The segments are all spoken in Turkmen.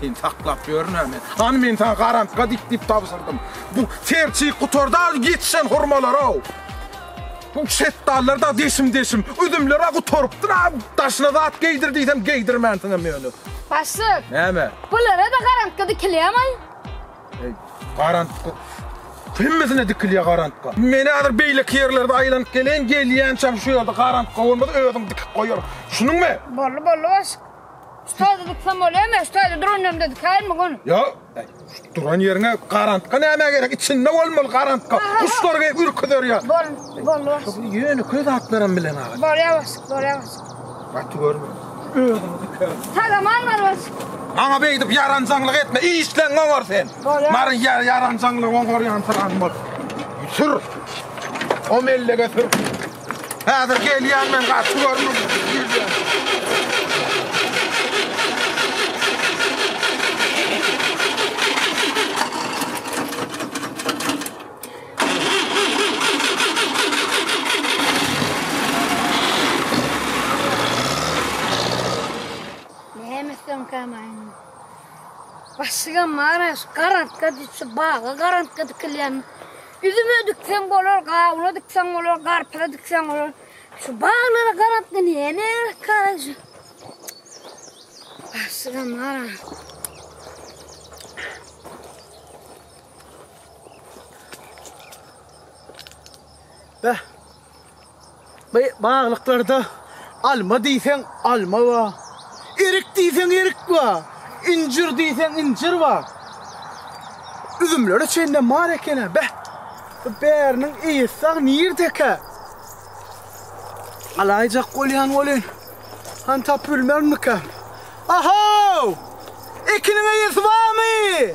Seni saklap ýörün-ä men. Hany men saňa garantga dik diýip tabşyrdym. Bu serçik gutardaly ýetişen hurmalar-ow. Bu şetdallar-da deşim-deşim. Üzümler-ä gutarypdyr-a. Daşyna zat geýdir diýsem geýdirmänsiňem ýöne. Başlyk. Näme? Bulara-da garantga dikilýämi? Garantga? Hemmesine dikilýär garantga. Men häzir beýleki ýerlerde aýlanyp geleýin, gelýänçäm şu ýerde garantga bolmasa özüň dikip goýaryň. Düşündiňmi? Boldy, boldy başlyk. Ştazy diksem bolýarmy? Ýa ştazy duran ýerimde dikeýinmi gun? Ýok. Duran ýeriňe garantka nämä gerek? Içinde bolmaly garantka. Guşlar gelip ürküzer ýa. Bol, bol, bol. Şu ýöne köz atlaram bilen aga. Bolýar başyk, bolýar başyk. Gaty görme. Özüňi diker. Tagaman bar başyk. Maňa beýdip ýaranjaňlyk etme. Işleň oňar sen. Bolýar. Mary ýer ýaranjaňlyk oňar ýansyran bol. Sür. O mellege sür. Häzir gelýän men gaty Başygam mara şu garantka diýip şu baga garantka dikilýän Üzüme dikseň bolar, gawuna dikseň bolar, garpyza dikseň bolar. Şu baglara garap gidýän ähkaj. Başga mara. Beh, Bu baglyklarda alma diýseň alma bar, erik diýseň erik bar, injir diýseň injir bar. Üzümlere çenlem bar eken-ä. Beh, bu bäriniň eýesi sag nirdekä? Alaýjak bolýan welin, han tapybilmermikäm? Ahow! Ekiniň eýesi barmy?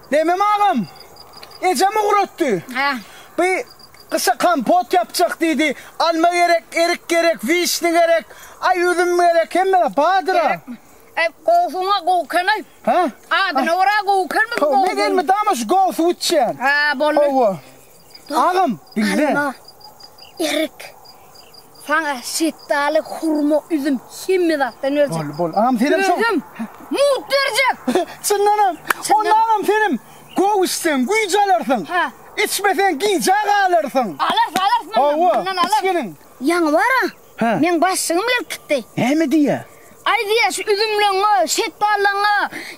Memem agam, ejem ugratdy. Bi gyşa kompot ýapjak diýdi. Alma gerek, erik gerek, wişni gerek, aý üzüm gerek, hemme zat bardyr-a. Gerekmi? Eý, gowsuňa gowuken-aý. Adyna görä gowukenmi bu gowsuň? Men elmydama şu gowusy wütjeýän. Boldy. Hawa. Agam diňle. Alma, erik, saňa şetdaly, hurma, üzüm hemme zatdan berjek. Boldy, boldy. Agam senem şo. Özüm mugt berjek. Çyndanam. Onda agam senem gowy içseň güýç alarsyň. Hä. Içmeseň gijä galarsyň. Alarys, alarys mundan. Hawa, mundan alarys. Iç gelin. Ýaňy bar-a, Meň başygym eltipdi. Näme diýýä? Aý diýýä, şu üzümleňňe, şetballeňňe,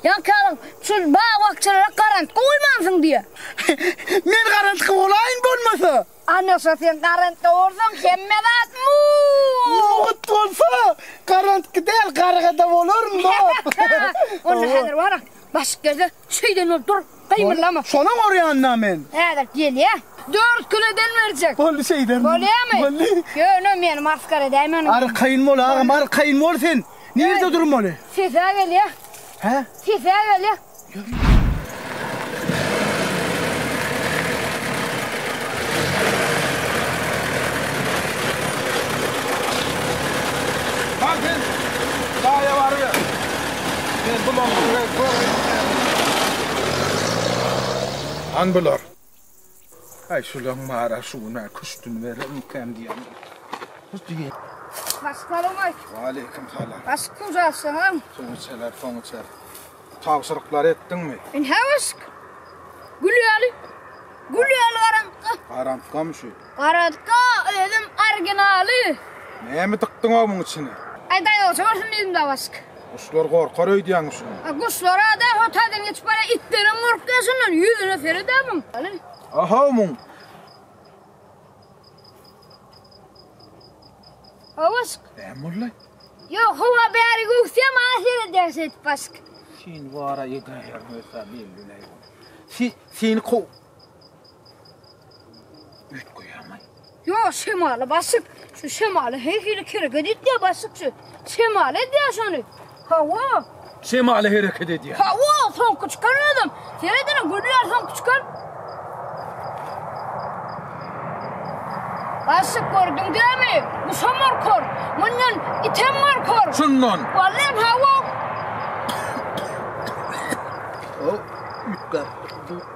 ýankalyň şu bag-bakjalara garantga goýmansyň diýýä. Men garantga bolaýyn bolmasa? Anaşa sen garantga bolsaň hemme zat mugt. Mugt bolsa, garantga däl, gargada bolaryn-da. Onda häzir bar-a, başyk gelse, şeýden bolup dur. Gymyldama. Şona gorýan-da men. Häzir gelýä. Dört kilo den berjek. Boldy şeýderdim. Bolýamy? Boldy. Ýöne meni masgara edäýme onuň. Arkaýyn bol agam, arkaýyn bol sen. Nirde durmaly? Sesä gelýä. Hä? Sesä gelýä. Ýör. Men bulan size Han bular. Aý şulaň mara şu gün-ä küştüni berermikäm diýýän. Assalamu aleýkum. Wa aleýkum salam. Başyk suw jaşlaňam. Suw içeler, soň içer. Tabşyryklary etdiňmi? Ine başyk. Gül ýaly. Gül ýaly garaňka. Garaňkamy şu? Garazda özüm originaly. Näme dykdyňow muň içine. Aý daýawça bolsun diýdim dawaşyk. Guşlar gorkar öýdýäňmi şuny. A guşlarada ho taýdan geçip barýa itlerem gorkýa şundan ýüzüne seredä muň. Ahow muň. Dawaşyk. Näme boldy. Ýok howa bäri göwsýa maňa seredýäň şeýdip başyk. Seni wara edäýerin öýdýän belli näme. Seni kow. Yo şemaly basıp, şu şemaly her hili kereket etdi basıp şu. Şemaly edýär şony. Hawa. Şemaly hereket edýär. Hawa, soňky çykar özüm. Seredene gülýär soňky çykar. Basıp gördüm demi? Bu şamar kor. Mundan item var kor. Şundan. Vallahi hawa. O, ütkär.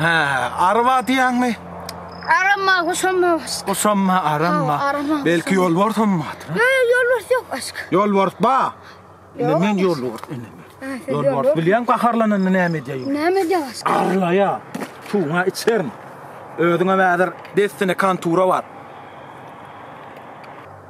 Hä, araba diýäňmi? Arama, gusama. Gusama, arama. arama, Belki gusama. ýol borsam batyr. Yo, yo, yol var yok aşk. Ýol bors ba. Ine Ýol men ýol bors ine men. Ha, sen Ýol ýol bors bors. bilýän gaharlananda näme edýär? Näme edýär aşk? Arlaýa. Suwuňa içerin. Özüňe häzir dessine kantura bar.